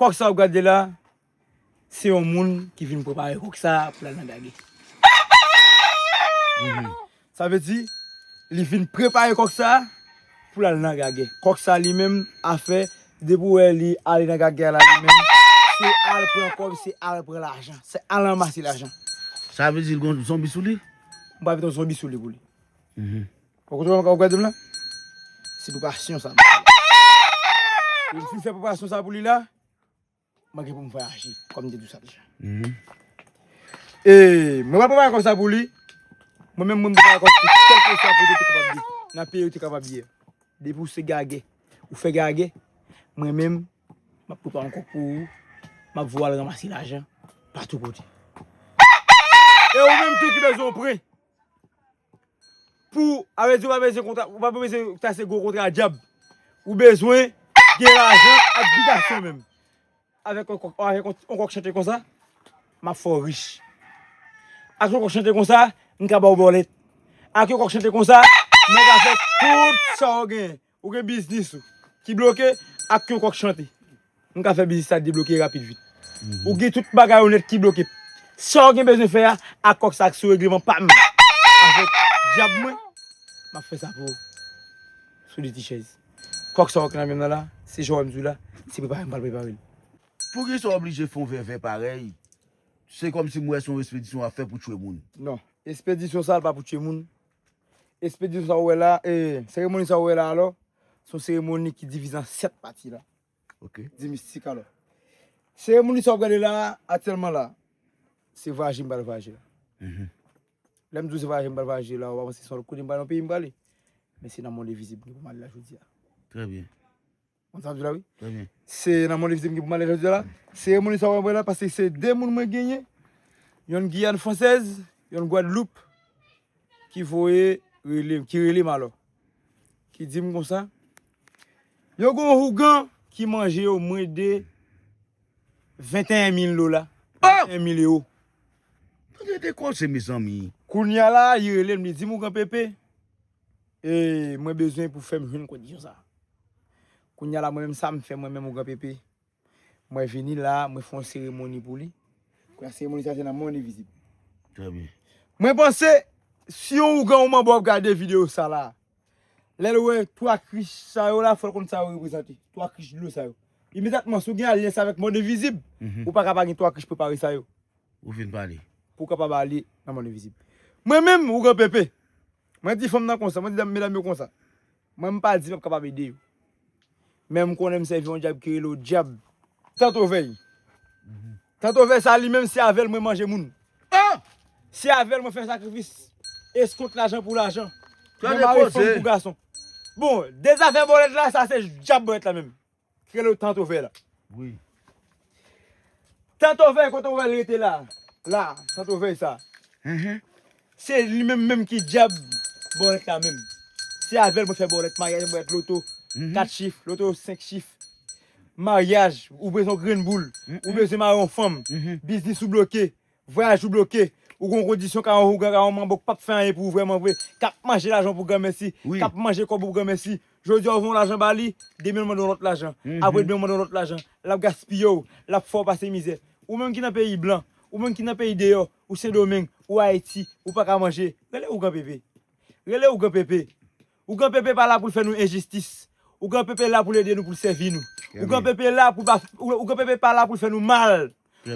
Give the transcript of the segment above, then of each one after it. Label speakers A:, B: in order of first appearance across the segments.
A: Kok sa wap gade la se yon moun ki vin prepare kok sa pou lal nan gage. Sa vle di li vin prepare kok sa pou lal nan gage. Kok sa li menm afè depi ou wè li ale nan gage a la li menm se al pran kob se al pran lajan. Se al ranmase lajan. Sa vle di li
B: gon zonbi sou li? Mpa vle ton zonbi
A: sou li pou li. Ou kote wap gade m la? Se preparasyon sa. Depi m fin fè preparasyon sa pou li la, mwen gen pou m vwayaje. Kòm m te di w sa deja. E mwen pral prepare kò sa pou li. Mwen menm mwen prepare kò pou kèlke swa kote ou te kapab ye. Nan peyi ou te kapab ye. Depi ou se gagè, ou fè gagè, mwen menm m ap prepare yon kò pou ou. M ap voye w al ranmase lajan patou kote. E ou menm tou ki bezwen yon pre. Pou avè di ou pa bezwen kontra ou pa bezwen ta se gwo kontra dyab ou bezwen gen lajan ak bitasyon menm avèk yon kòk avèk yon kòk chante konsa map fè w rich ak yon kòk chante konsa m ka ba w bòlèt ak yon kòk chante konsa mwen ka fè tout sa w genyen Ou gen biznis ou ki bloke ak yon kòk chante. M ka fè biznis la debloke rapid vit. Ou gen tout bagay ou nèt ki bloke. Sa ou gen bezwen fè a ak kòk sa ki sou regleman pa m avèk dyab mwen, m ap fè sa pou ou sou de ti chèz. Kòk sa ou ki nan men m nan la, se jan ou wè m di w la, se prepare m pral prepare l. Poukisa
B: w oblije fè yon vèvè parèy? Se kòmsi m wè se yon espedisyon w ap fè pou tchwe moun. Non, espedisyon
A: sa a pa pou tchwe moun. Espedisyon sa ou wè la, seremoni sa ou wè la alò, se yon seremoni ki divize an 7 pati la. Ok. Di
B: mistik alò.
A: Seremoni sa ou gade la, atyèlman la, se vwayaje m pral vwayaje la. Mhm. Lè m di ou se vwayaje m pral vwayaje la, ou pa panse se yon lòt kote m prale, yon peyi m prale. Men se nan mond envizib m pou m ale la jodi a. Trè byen.
B: Ou konn sa map di la
A: wi. Trè byen. Se nan
B: Monlevite m gen
A: pou m ale jodi a la. Seremoni sa wap wè la pase se 2 moun mwen genyen. Yonn Giyàn fransèz, yonn Gwadloup ki voye rele m, ki rele m alò. Ki di m konsa, yo gen yon hougan ki manje yo mwen de 21 mil dola, 21 mil ewo. Tande
B: de kòse mezanmi. Kounya la li
A: rele m li di m, Ougan Pepe, Eey mwen bezwen pou fèm jwenn kondisyon sa. Kounya la mwen menm sam fè mwen menm ou gran pepe. Mwen vini la mwen fè yon seremoni pou li. Kounya seremoni sa se nan mwen li vizib. Trè byen.
B: Mwen panse
A: si yon ougan ou manbo ap gade video sa la. Lèl wè 3 krich sa yo la fòl konn sa yo reprezante. 3 krich dlo sa yo. Imedatman si ou gen alyans avèk mond envizib ou paka pa gen 3 krich prepare sa yo. Ou fin pale.
B: Pou kapab ale
A: nan mond envizib. Mwen menm ou gran pepe. Mwen di fanm nan konsa, mwen di medam yo konsa. Mwen m pa di m ap kapab ede yo. Men m konnen m sèvi yon djab ki rele w djab. Tantovèy. Tantovèy sa li menm se avè l mwen manje moun. An! Se avè l mwen fè sakrifis. Eskont lajan pou lajan. Mwen mare fanm pou gason. Bon, dezafè bòlèt la, sa se djab bòlèt la menm. Rele Tant Ovè la. Wi.
B: Tant
A: Ovè kote ou wè l rete la a? La a, Tant Ovè sa a. Enhen. Se li menm menm ki dyab bòlèt la menm. Se avè l mwen fè bòlèt maryaj, bòlèt loto, kat chif, loto senk chif. Maryaj, ou bezwen yon grenn boul, ou bezwen mare yon fanm, biznis ou bloke, Vwayaj ou bloke, ou gen yon kondisyon ka yon hougan ka yon manbo k pap fè anyen pou ou vrèman vre, kap manje lajan w pou granmèsi, kap manje kòb ou pou granmèsi. Jodi a ou voye yon lajan ba li, demen l mande yon lòt lajan, apre demen l mande yon lòt lajan, lap gaspiye w, lap fè w pase mizè. Ou menm ki nan peyi blan, ou menm ki nan peyi deyò, ou Sendomeng, ou Ayiti, ou paka manje, rele ougan pepe. Rele ougan pepe. Ougan Pepe pa la pou l fè nou enjistis. Ougan Pepe la pou l ede nou, pou l sèvi nou. Ougan Pepe la pou pa, Ougan Pepe pa la pou l fè nou mal.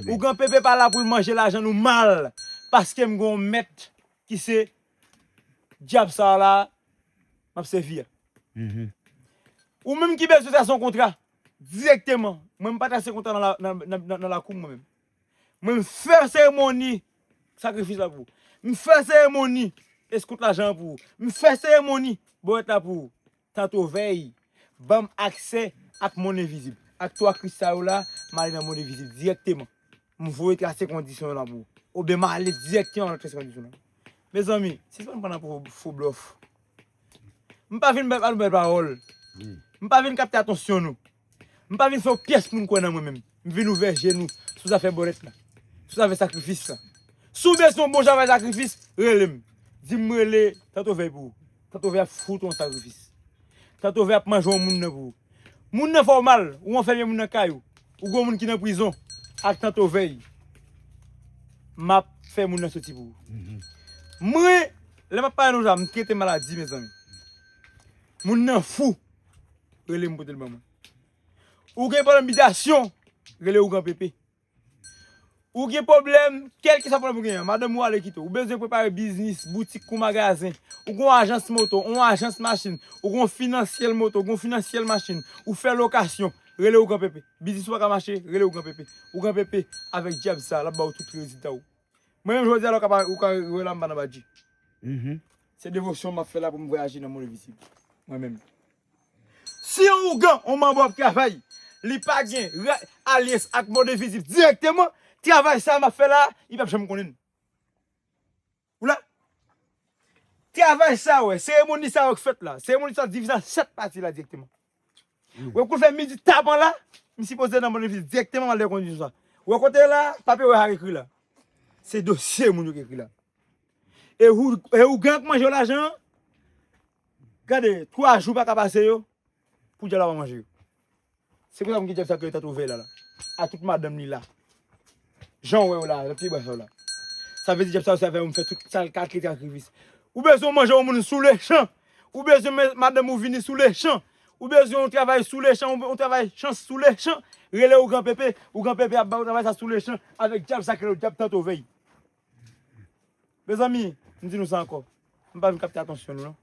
A: Ougan Pepe pa la pou l manje lajan nou mal. Paske m gen yon mèt ki se dyab sa a la a m ap sèvi a. Ou menm ki bezwen trase yon kontra dirèkteman, mwen m pa trase kontra nan lakou m mwen menm. Mwen m fè seremoni sakrifis la pou ou. M fè seremoni eskout lajan an pou ou. M fè seremoni bowèt la pou ou. Tantovèy, ban m aksè ak monn envizib. Ak 3 kris sa yo la, m ale nan monn envizib dirèkteman. M voye trase kondisyon yo la pou ou. Oubyen m ale dirèkteman m al trase kondisyon yo. Mezanmi, sispann pran nan fo blòf. M pa vin bay ba nou bèl pawòl. M pa vin kapte atansyon nou. M pa vin fè yon pyès moun kwè nan mwen menm. M vin ouvè je nou sou zafè bòlèt la, sou zafè sakrifis la. Si w bezwen yon bon travay sakrifis, rele m. Di m m rele Tanto Vèy pou ou. Tanto Vèy ap fout ou yon sakrifis. Tanto Vèy ap manje yon moun nan pou ou. Moun nan fè w mal, ou anfème moun nan kay ou, ou gen yon moun ki nan prizon, ak Tanto Vèy, m ap fè moun nan soti pou ou. Mwen, lè m ap pale nou sa, m trete maladi mezanmi. Moun nan fou. Rele m pote l ban mwen. Ou gen pwoblèm bitasyon, rele ougan pepe. Ou gen pwoblèm, kèlke sa pwoblèm ou gen an, madanm ou ale kite w, ou bezwen prepare biznis, boutik kou magazen, ou gen yon ajans moto, yon ajans machin, ou gen yon finansyèl moto, ou gen yon finansyèl machin, ou fè lokasyon, rele ougan pepe. Biznis ou pa ka mache, rele ougan pepe. Ougan pepe, avèk dyab sa a, l ap ba ou tout rezilta ou. Mwen menm jodi a la ou ka wè la m pa nan badji. Se devosyon map fè la pou m vwayaje nan mond envisib mwen menm. Si yon ougan, yon manbo ap travay, li pa gen alyens ak mond envisib dirèkteman, travay sa map fè la, li pap janm konnen. Ou la? Travay sa wè, seremoni sa wè k fèt la, seremoni sa divize an 7 pati la dirèkteman. Wè koufe midi tapan la, m sipoze nan Bonnevis direkteman male kondi sou sa. Wè kote la, papye wè sa ekri la. Se dosye moun yo ki ekri la. E ougan ak manje lajan an, gade, 3 jou paka pase yo, pou dyab la pa manje yo. Se pou sa moun ki dyab sa ki yo ta twouve la la. A tout madanm li la. Janw wèw la, lap pi bwa sa w la. Sa vle di dyab sa yo sèvi avèw m fè tout sal ka kite akrivis. Ou bezwen w manje yon moun sou le chan. Ou bezwen men madanm ou vini sou le chan. Ou bezwen yon travay sou le chan, yon travay chans sou le chan. Rele ou gran pepe, ou gran pepe ap baw travay sa sou le chan avèk dyab sa k rele w dyab tanto vèy. Mezanmi, m di nou sa ankò, m pa vin kapte atansyon nou non.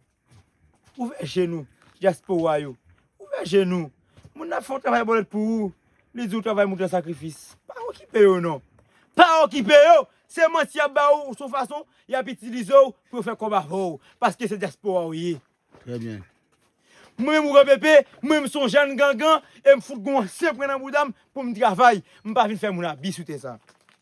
A: Ouvè je nou, dyaspora yo. Ouvè je nou. Moun nan ap fè yon travay bòlèt pou ou, li di ou travay moun gen sakrifis. Pa okipe yo non. Pa okipe yo! Se manti y ap ba ou, se yon fason y ap itilize ou pou yo fè kòb avè ou. Paske se dyaspora ou ye. Trè byen.
B: Mwen menm
A: Ouvè Pepe, mwen menm m se yon jèn gangan e m fout gen yon ansyen pren nan bouda m pou m travay. M pa vin fè moun abi sou tè sa.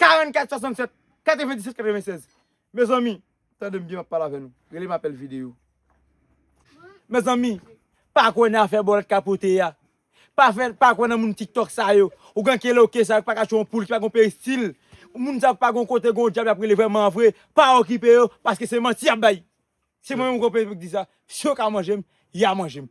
A: 44 67 97 96 Mezanmi Tandem byen map pale avè nou Relem apèl video Mezanmi Pa kwè nan afè bòlèt ka pote ya Pa kwè nan moun tiktok sa yo Ou gen kele ok sa yo ki pa ka tchwe yon poul ki pa gen peristil Moun sa yo ki pa gen kote gen yon dyab yap rele vrèman vre Pa okipe yo paske se manti yap bay Se mwen menm ki gen yon peyi pou ki di sa Si yo ka manjem ya manjem